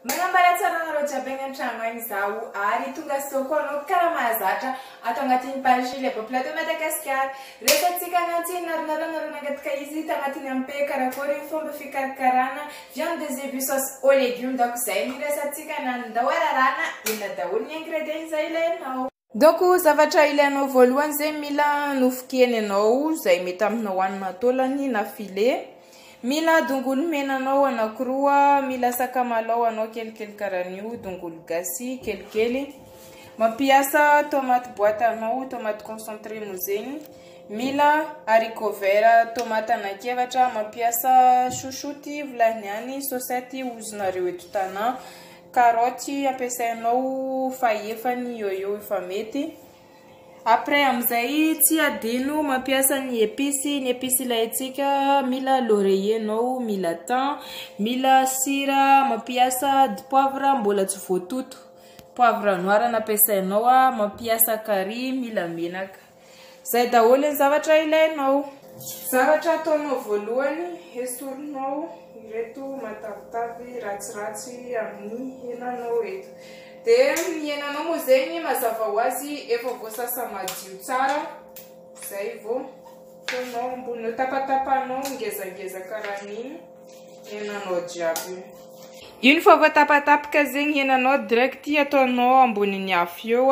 Manambara tsara anareo jiaby any antrano any izaho ary tonga sao koa anao mpikara mahazatra ato agnatin'ny page Lebo Plateau Madagasikara. Resatsika agnantsy naronaro anareo nangataka izy tagnatiny ampe karakôry ny fomba fikarakarana viande de zebu sauce au legume daoka izay ny resatsika na ny ndao ararana inona daholo ny ingrédients izay ilainao. Donc zavatra ilainao voalohany zegny mila nofo kena ianao zay mety aminao hanina taolagny na filet, mila dongolo mena anao anakiroa, mila sakamalao anao kelikely karaha an'io, dongolo gasy kelikely, mampiasa tomate boite anao, tomate concentré moa zegny, mila haricot vert tomate anankiefatra, mampiasa chouchoute volagniny any, sosety ozinareo eto Tana. Karaoty ampiasainao fahefa ny yoyo efa mety. Après amin'izay tsy adino mampiasa ny epices, ny epices ilaintsika mila laurier anao, mila thym, mila sira, mampiasa dipoavra mbola tsy voatoto, poivre noir no ampiasainao, mampiasa carry, mila menaka. Izay daholo ny zavatra ilainao. Zavatra ataonao voalohany, esorinao ireto matavitavy ratsiratsy amin'ny henanao eto. Dia ny henanao moa zegny mazava ho azy efa voasasa madio tsara, zay vao ataonao ambony eo, tapatapahanao ngezangeza karaha ny henanao jiaby io. Iny fa voatapatapaka zegny henanao, direct ataonao ambonin'ny afo eo,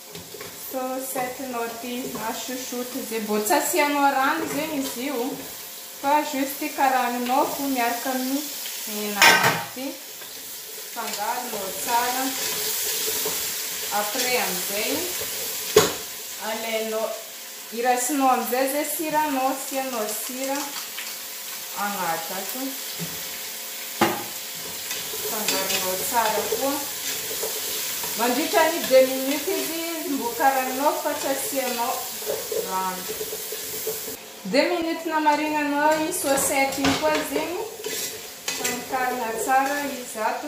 Photo, Cette note a chouchoute ze mbô tsy asianao rano zegny izy io fa juste karagninao fô miaraka amin'ny hena agnaty, fangaronao tsara, après amin'izay alainao. I Rasinao amizay zay sira anao asianao sira agnaty ato. Afangaronao tsara koa. Mandritra ny deux minutes izy mbo karaninao fa tsy asianao rano. Deux minutes namarinanao i saucette iny koa zegny fa mikarigna tsara izy ato.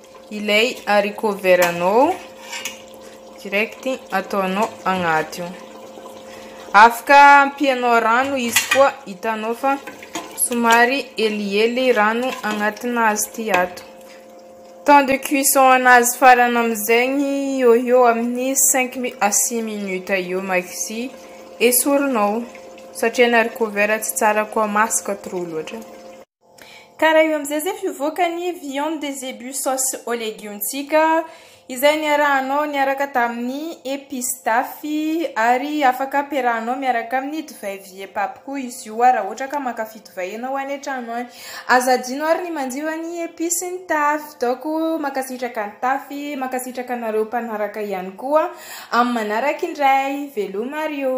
Ilay haricot vert anao direct ataonao agnaty io. Afaka ampianao rano izy koa hitanao fa somary helihely rano agnatina azy ty ato. Temps de cuisson anazy farany amin'izegny eo eo amin'ny 5 mi- à 6 minutes eo maxi. Esorinao satria ny haricot vert tsy tsara koa masaka trop loatra. Ka raha io amin'izay izay fivoaka ny viande de zebu sauce aux légumes-ntsika izay niarahanao niaraka tamin'ny épices d'afy ary afaka ampiarahanao miaraka amin'ny divay vieux pape koa izy io raha ohatra ka mankafy divay ianao any an-trano any. Aza adino ary ny manjifa ny épices ny tafy. Daoko mankasitraka ny tafy, mankasitraka anareo mpanaraka ihany koa. Amin'ny manaraka indray. Veloma ry ô.